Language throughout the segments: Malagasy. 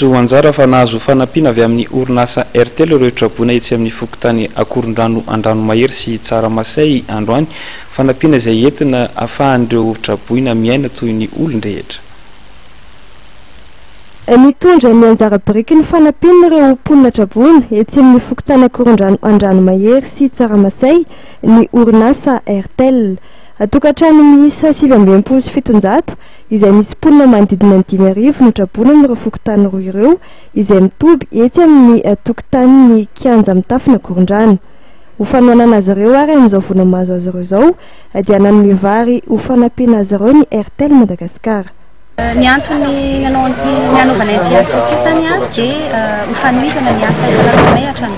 Diso anjara fa nahazo fanampiana avy amin'ny orinasa Airtel ireo traboina etsy amin'ny fokontany Akorondrano Andranomahery sy Tsaramasay androany, fanampiana izay entina afahan'ireo traboina miaina toy ny olon-drehetra. Nitondra ny anjara biriky ny fanampiana ireo mponina traboina etsy amin'ny fokontany Akorondrano Andranomahery sy Tsaramasay ny orinasa Airtel. Tokantrano miisa sivy amby enimpolo sy fitonjato izay misy mponina manodidina ny dimy arivo notraboina amin'ireo fokontany roa ireo izay mitoby etsy amin'ny tokontanin'ny kianja mitafo Nakorondrano. Ho fanohanana azy ireo ary amin'izao vola mahazo azy ireo izao dia nanome vary ho fanampiana azy ireo ny Airtel Madagasikara. Ny antony nanao an'ity nanaovana ity asa ity izany dia ho fanohizana ny asa efa lavoninay hatramin'izao.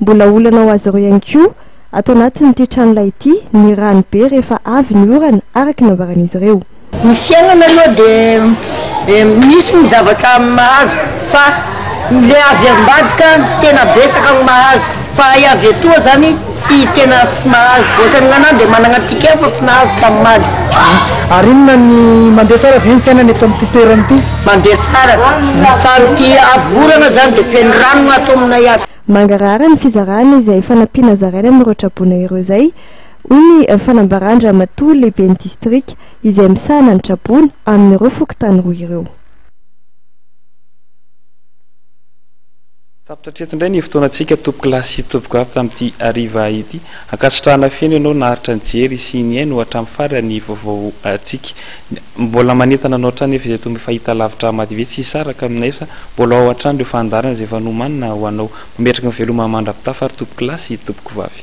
Mbola olana ho azy ireo ihany koa ato anatin'ity tranolay ity ny rano be rehefa avy ny orana, araka ny nambaran'izy ireo. Ny fiainana aloha dia misy ny zavatra mahazo fa ilay avy ambadika no tena betsaka no mahazo fa ilay avy etoa izany tsy tena tsy mahazo, ohatran'ny nganahy dia manana ticket fa tsy nahazo tamin'ny maty. Ary inona ny, mandeha tsara ve ny fiainana eto amin'ity toerana ity? Mandeha tsara fa amin'ity avy orana izany dia feno rano no ato aminay ato. Mangarahara ny fizarana izay fanampiana zaraina amin'ireo traboina ireo izay, hoy ny fanambaran-dRamatoa Lehiben'ny Distrika izay misahana ny traboina amin'ireo fokontany roa ireo. Tapitra hatreto indray ny fotoanantsika tompokolahy sy tompokivavy tamin'ity hariva ity. Ankasitrahana feno ianao naharitra nijery sy nihaino hatramin'ny farany ny vaovao antsika. Mbola manentana anao hatrany nefa izay toa fahitalavitra Amady ve tsy hisaraka aminay sa mbola ao hatrany ireo fandaharana izay efa nomanina ho anao. Mametraka ny veloma mandra-pitafa ary tompoko lahy sy tompoko vavy.